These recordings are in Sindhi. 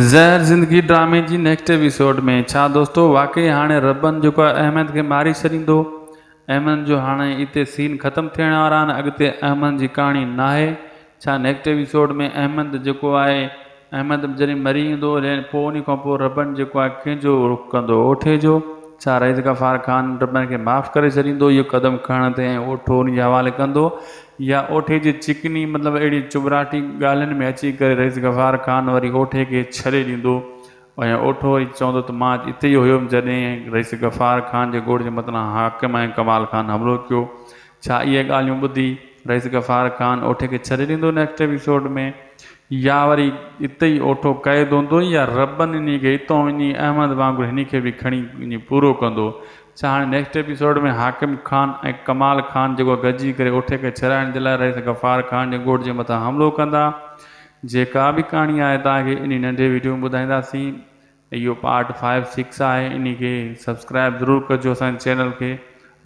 زهر زندگي ڊرامي جي نيڪسٽ ايپيسوڊ ۾ ڇا دوستو واقعي هاڻي ربن جيڪو آهي احمد کي ماري ڇڏيندو احمد جو هاڻي اتي سين ختم ٿيڻ وارا آهن اڳتي احمد جي ڪهاڻي ناهي ڇا نيڪسٽ ايپيسوڊ ۾ احمد جيڪو آهي احمد جڏهن مري ويندو لين پوء انهي کان پوء ربن جيڪو آهي ڪنهن جو رخ ڪندو اوٺي جو ڇا رئيس غفار خان ربن کي معاف ڪري ڇڏيندو اهو قدم کڻڻ تي ۽ اوٺو انهي جي حوالي ڪندو يا اوٺي جي چڪني مطلب اهڙي چٻراٽي ڳالهين ۾ اچي ڪري رئيس غفار خان وري اوٺي کي ڇري ڏيندو ۽ اوٺو وري چوندو ته مان اچ اتي ئي هيم جڏهن رئيس غفار خان جي ڳوڙهه جي متلان حاڪم ۽ ڪمال خان حملو ڪيو ڇا اهي ڳالهيون ٻڌي رئيس غفار خان اوٺي کي ڇري ڏيندو نيڪسٽ ايپيسوڊ ۾ يا وري اتي ئي اوٺو قيد هوندو يا ربن انهي کي اتو وڃي احمد وانگر هني کي به کڻي وڃي پورو ڪندو ڇا هاڻي نيڪسٽ ايپيسوڊ ۾ حاڪم خان ۽ ڪمال خان جيڪو گڏجي ڪري اٺي کي ڇڏائڻ جي لاء رئيس غفار خان جي ڳوٺ جي مٿان حملو ڪندا جيڪا به ڪهاڻي آهي توهان کي انهي ننڍي ويڊيو ۾ ٻڌائينداسين اهو پارٽ فائيو سڪس آهي انهي کي سبسڪرائب ضرور ڪجو اسان جي چينل کي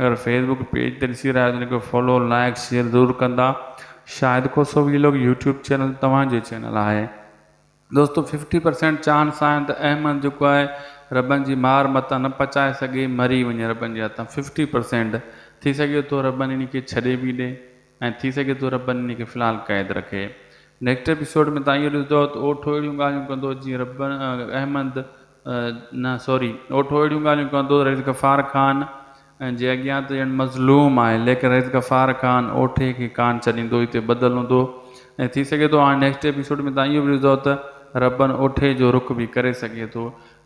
اگر فيس بڪ پيج تي ڏسي رهيا آهيو ته ان کي فالو لائيڪ شيئر ضرور ڪندا Shahid Khoso vlog YouTube channel توهان جو چينل آهي. دوستو ففٽي پرسينٽ چاھن ساھن ته احمد جيڪو آھي ربن جي مار متان نه پچائي سگھي مري وڃي ربن جي ھٿان ففٽي پرسينٽ ٿي سگھي ٿو ربن ان کي ڇڏي به ڏي ۽ ٿي سگھي ٿو ربن ان کي في الحال قيد رکي نيڪسٽ ايپيسوڊ ۾ تھان اھو ڏسدؤ ته اوٺو اھڙيون ڳالھيون ڪندو جيئن ربن احمد نه سوري اوٺو اهڙيون ڳالهيون ڪندو رئيس غفار خان جي اڳيان ته ڄڻ مظلوم آهي ليڪن رئيس غفار خان اوٺي کي ڪانه ڇڏيندو هي ته ٻڌل هوندو ۽ ٿي سگهي ٿو هاڻي نيڪسٽ ايپيسوڊ ۾ توهان اهو به ڏسندو ته ربن اوٺي جو رخ به ڪري سگهي ٿو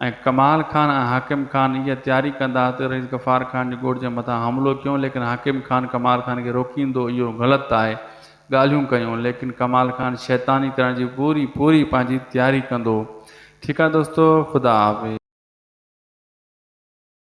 ۽ ڪمال خان ۽ حاڪم خان اها تياري ڪندا ته رئيس غفار خان جي ڳوٺ جي مٿان حملو ڪيون ليڪن حاڪم خان ڪمال خان کي روڪيندو اهو غلط آهي ڳالهيون ڪيون ليڪن ڪمال خان شيطاني ڪرڻ جي پوري پوري پنهنجي تياري ڪندو ٺيڪ آ دوستو خدا حافظ.